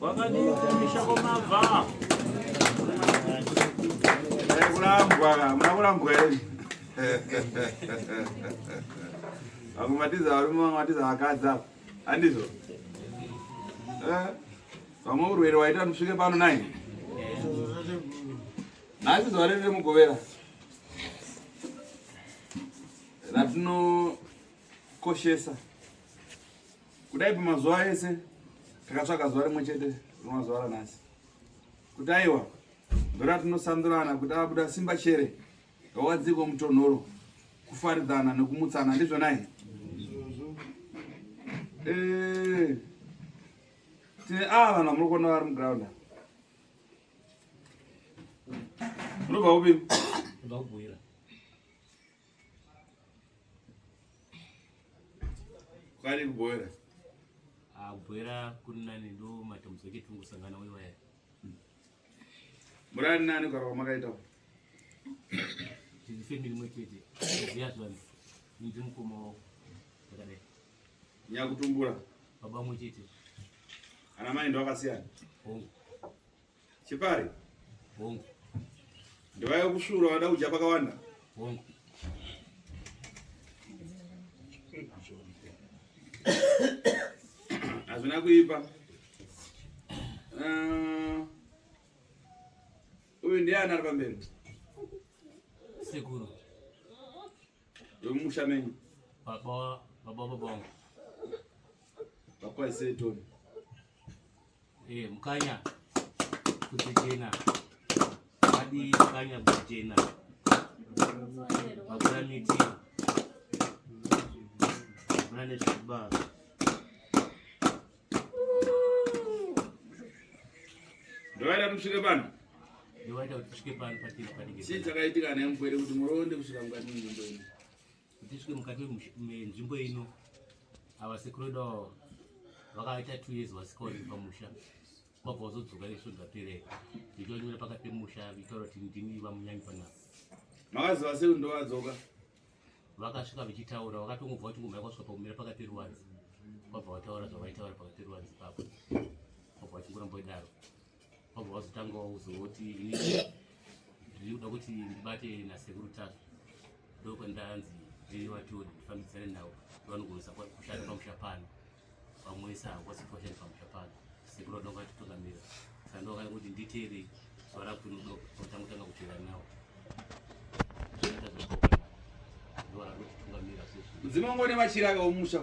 Wakadii kumisha kwamabva? Eh, kulambwa, hamuna kulambwa here? Vamwe matiza varume, vamwe matiza vakadzi apa. Handizvo? Eh, vamwe urwere waita ndisvike pano nai? Nhasi zuva redu remugovera ratinokoshesa kudai pamazuva ese takatsvaka zuva rimwe chete rinomazuva ranhasi kuti aiwa ndora tinosandurana kuti abuda simba chere ngawadziko mutonhoro kufaridzana nekumutsana ndizvonai eh, tine ava ah, vanhu vamuri kuona vari mugraunda munobva kupi Kwari kubwera. Ah, kubwera kuri nani ndo matambudziko echitungu sangana wewe waya. Murani nani kwa kwa makaita. Tiri family mwechete. Zviya zvani. Ndi mukoma wao. Ndakadai. Nyakutumbura. Baba mwechete. Ana mai ndo akasiyana. Oh. Chipari. Hongu. Ndivaya kusvura vada kudya pakawanda. Hongu. Hazvina kuipa. Uh, uyu ndiye anari pamberi. Sekuru. Yomusha menyu. Baba baba baba wangu. Baba isetoni. Eh, mukanya kuchichena adi mukanya kuchichena hakuna miti hakuna nezvekuba ndovaita kuti svike pano ndovaita kuti svike pano patiri panenge chii chakaitika nemupwere kuti muroonde kusvika mukati munzvimbo ino kuti svike mukati menzvimbo ino ava sekuru vedu avo vakaita two years vasikaoneki pamusha kwabva vazodzoka isvo dzapere ndichonyora pakati pemusha vitaura kuti ndini vamunyanyi panapa makaziva sei ndo vadzoka vakasvika vachitaura vakatongobva kuti ngumba yakwasvika pakumira pakati peruwanzi kwabva vataura zvavaitaura pakati peruwanzi papo kwabva vachingoramba idaro wabva wazotanga wauzooti ini ndiri kuda kuti ndibate nasekuru tasvu ndokwa ndanzi ndiri vatori ndifambidzane navo vanogonesa kushanda pamusha pano vamwesa hakwasi kushanda pamusha pano sekuru vanonga atitungamira saka ndokana kuti nditeere zuva rakuno ndokutanga kutanga kuteera navo mudzimu wangu une machira akaomusha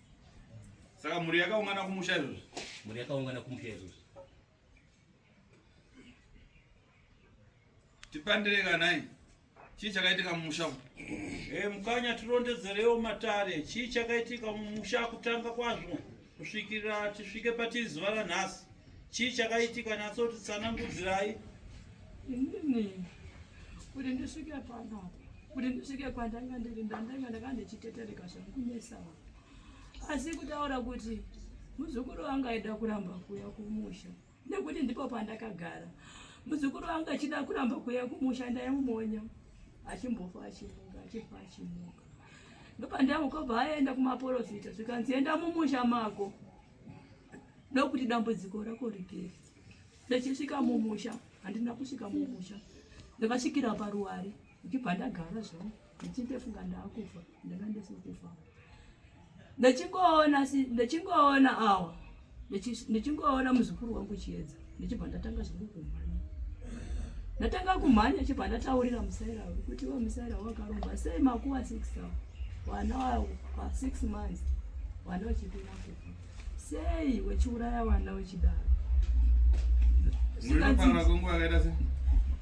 Saka mhuri yakaungana kumusha izvozvi. Mhuri yakaungana kumusha izvozvi. Tipandire kanai. Chii chakaitika mumusha umu? Eh, mukanya tirondedzerewo matare. Chii chakaitika mumusha kutanga kwazvo kusvikira tisvike patiri zuva ranhasi. Chii chakaitika natsoti tsanangudzirai. Inini kuti ndisvike panapa kuti ndisvike kwandanga ndiri ndandanga ndanga ndichitetereka zvangu kunesawa asi kutaura kuti muzukuru wangu aida kuramba kuuya kumusha nekuti ndipo pandakagara muzukuru wangu achida kuramba kuuya kumusha ndaimumonya achimbofa achimuka achifa achimuka ndopandamukobva aenda kumaporofita zvikanzi enda mumusha mako ndokuti dambudziko rako rigere ndichisvika mumusha handina kusvika mumusha ndakasvikira paruware ndichibva ndagara zvangu ndichindefunga ndaakufa ndanga ndisikufa ndichingoona ndichingoona awa ndichingoona muzukuru wangu chiedza ndichibva ndatanga zvangu kumhanya ndatanga kumhanya chibva ndataurira musaira uyu kuti iwe musaira wakaromba sei makuva six awa vana wavo pa six months vana vachipinda kufa sei wechiuraya vana wechidaro Muripa na kungu akaita se?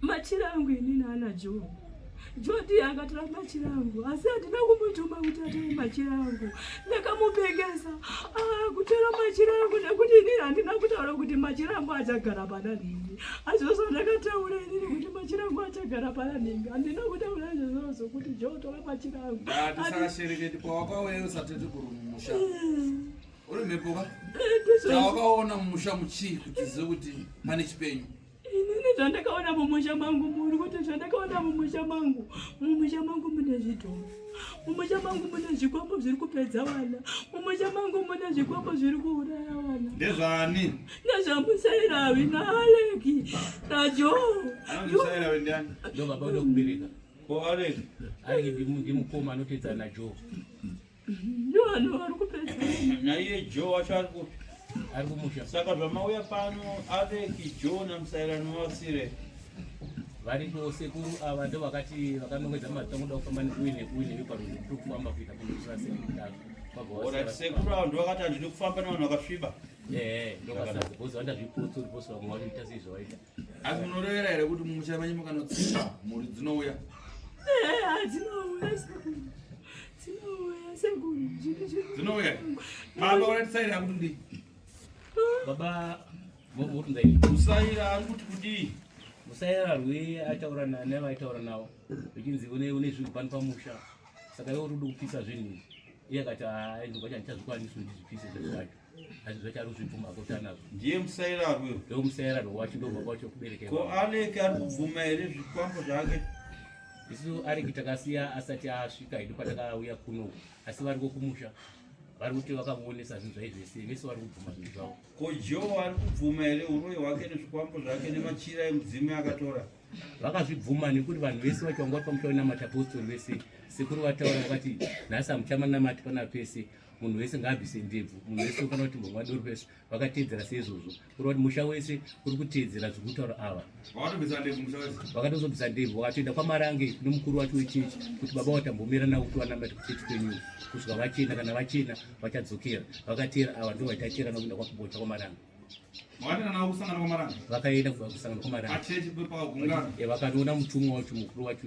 machira angu ini naana Joe Jodi akatora machira angu asi handina kumutuma kuti atore machira angu. Ndakamupengesa ah, kutora machira angu nekuti inini handina kutaura kuti machira angu achagara pana nhingi. Azvozvo ndakataura inini kuti machira angu achagara pana nhingi. Handina kutaura izvozvo kuti Jodi tora machira angu. Ndatisashereketi kwawakauya usati tikurumusha. Uri mhepo ka? Chawakaona mumusha muchii kuti zive kuti pane chipenyu? Inini zvandakaona mumusha mangu muri kuti zvandakaona mumusha mangu mumusha mangu mune zvidhoma mumusha mangu mune zvikwambo zviri kupedza vana mumusha mangu mune zvikwambo zviri kuuraya vana ndezvani nezvamusairavi naaleki najoo musairavi ndiani ndo baba unokubereka ko aleki aleki ndimukoma anotedzana najoo naiye jo wacho ari kupi ari kumusha saka zvamauya pano aveki jo namusairano wasire variko sekuru ava ndo vakati vakanongedza matongo da kufamba nekuwi nekuwi neveparundu kuri kufamba kuita kunotora sekuru sekuru ava ndo vakati handidi kufamba navanhu vakasviba ndokasazi bhozi vandazvipotsa uri bhosi vamwe wanoita sei zvawaita asi munorevera here kuti mumusha menyu mukanotsinga mhuri dzinouya dzinouya baba uratisaira kuti ndi baba musaira ari kuti kudii musaira rwe aitaura nani avaitaura navo vechinzi une zvinhu pano pamusha saka ivo rudi kupisa zvinhu izvi iye akati aizobva chandichazvikwanisi kuti ndizvipise zvinhu zvacho ndiye musairarwe ndomusairarwe wacho ndobva kwacho kuberekera ko aleki ari kubvuma here zvikwambo zvake isu areki takasiya asati asvika hedu patakauya kuno asi vari kokumusha vari kuti vakamuonesa zvinhu zvai zvese vese vari kubvuma zvinhu zvavo ko joe ari kubvuma here uroyi hwake nezvikwambo zvake nemachira emudzimu akatora vakazvibvuma nekuti vanhu vese vacho vanga vari pamusha wenamati apostori vese sekuru vataura vakati nhasi hamuchamanamati pana pese munhu wese ngaabvise ndebvu munhu wese ufanira kuti mhomwa doro vese vakateedzera seizvozvo kureva kuti musha wese uri kuteedzera zviri kutaura ava vakatozobvisa ndebvu vakatoenda kwamarange nemukuru wacho wechechi kuti baba watambomira navo kuti vanamati kuchechi kwenyu kusvika vachena kana vachena vachadzokera vakateera ava ndo vaitateera nakuenda kwakubocha kwamarange vakaenda kusangana kwamarange vakatoona mutumwa wacho mukuru wacho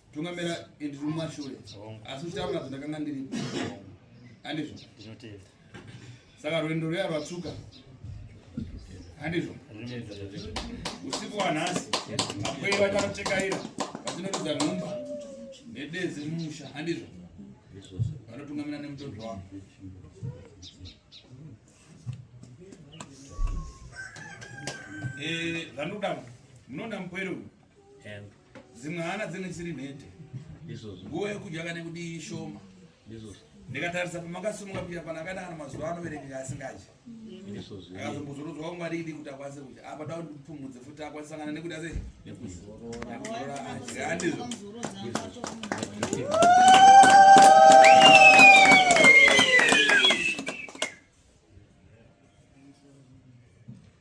tungamera and rumashure asi uchitaura kuti ndakanga ndiri handizvo ndinotenda saka rwendo ruya rwatsvuka handizvo usiku wanhasi vapwei vachanochekaira vachinotidza nhumba nedezi mumusha handizvo vanotungamira nemutoto wavo eh, zvandoda munoona mupwere uyu dzimwe hana dzinenge dzisiri nhete nguva yekudya kana kudii ishoma ndikatarisa pamakasimuka pia pana kana kana mazuva anoverengeka asingadyi akazombozorodzwa kwangwaridi kuti akwanise kudya apa da kuti ndipfumudze futi akwanise sangana nekuda sei nekuzorora adya handizvo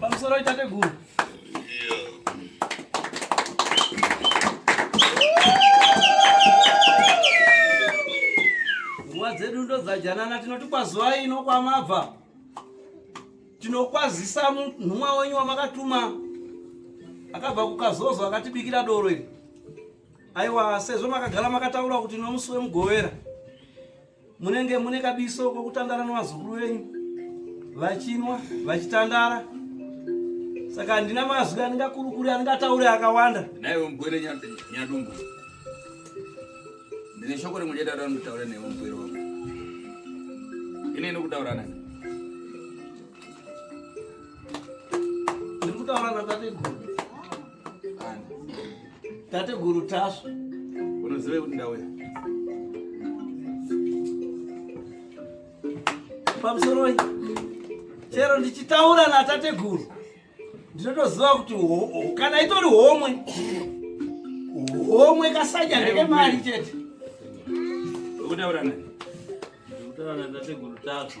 Pamusoro itateguru. Nguva dzedu ndodzajanana tinoti kwazuva ino kwamabva tinokwazisa nhumwa wenyu wamakatuma akabva kukazozo akatibikira doro iri aiwa sezvo makagara makataura kuti nomusi wemugovera Munenge mune kabiso kokutandara nevazukuru venyu vachinwa vachitandara saka handina mazwi andingakurukuri andingataure akawanda naiwe mugwere nyadumbu ndine shoko rimwe chete adandotaura naiwe mugwere wangu ine inokutaura nani ndiri kutaura natateguru Tate guru tasva. Unoziva kuti ndauya. Pamusoroi. Chero ndichitaura na tate guru. Ndinotoziva kuti kana itori homwe. Homwe kasanya ndeke mari chete. Ukutaura nani? Ukutaura na tate guru tasva.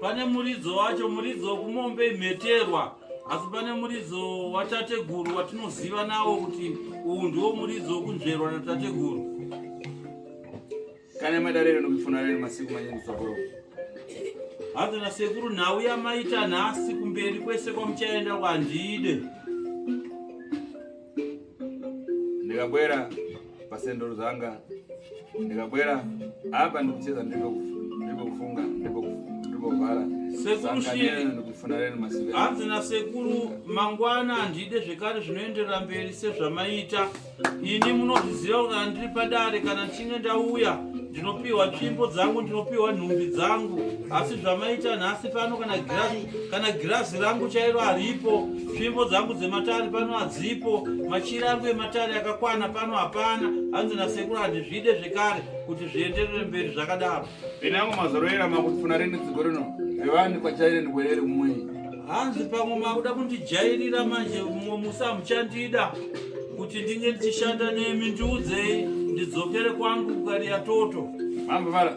Pane muridzo wacho, muridzo wekumombe imheterwa, asi pane muridzo watateguru watinoziva nawo kuti uwu ndiwo muridzo wekunzverwa natateguru. Kana madarero nokufuna rero masiku manyingi tsogoro. Hanzi nasekuru nhau yamaita nhasi kumberi kwese kwamuchaenda kwandide. ndikabwera pasendoro dzanga ndikabwera apa ndikucheza ndiripokufunga ndiripovhara hanzi nasekuru mangwana handide zvekare zvinoenderera mberi sezvamaita ini munozviziva kuti handiri padare kana ndichinge ndauya ndinopiwa tsvimbo dzangu ndinopiwa nhumbi dzangu asi zvamaita nhasi pano kana girazi rangu chairo haripo Tsvimbo dzangu dzematare pano hadzipo, machira angu ematare akakwana pano hapana, hanzi nasekuru handizvide zvekare kuti zvienderere mberi zvakadaro. Ini angu mazaroera makuti funa rene dziko rino revani kwachaire ndibwerere kumwei. Hanzi pamwe makuda kundijairira manje mumwe musi hamuchandida kuti ndinge ndichishanda nemi ndiudzei ndidzokere kwangu kukariya toto. Mambo vara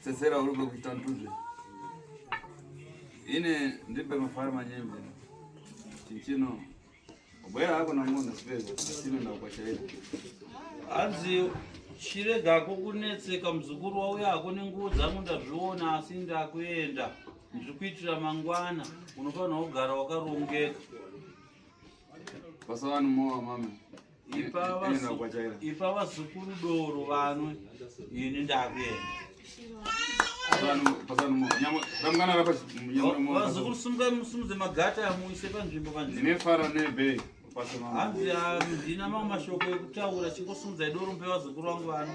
Sesera uri kuita ntuzve. Ine ndipe mafara manyembe. Chinchino. Ubwera hako na munhu sipedza. Chino ndakukwashaira. Hanzi chiregako kunetseka muzukuru wauya hako nenguwo dzangu ndazviona asi ndakuenda. Ndiri kuitira mangwana. Unofanira kugara wakarongeka. Basa vanhu mowa mama. ipa vazukuru doro vanwe ini ndakuenda vazukuru sumukai musimudze magata muise panzvimbo panzvimbo hanzi handina ah, mamwe mashoko ekutaura chingosumudzai doro mupe vazukuru vangu vano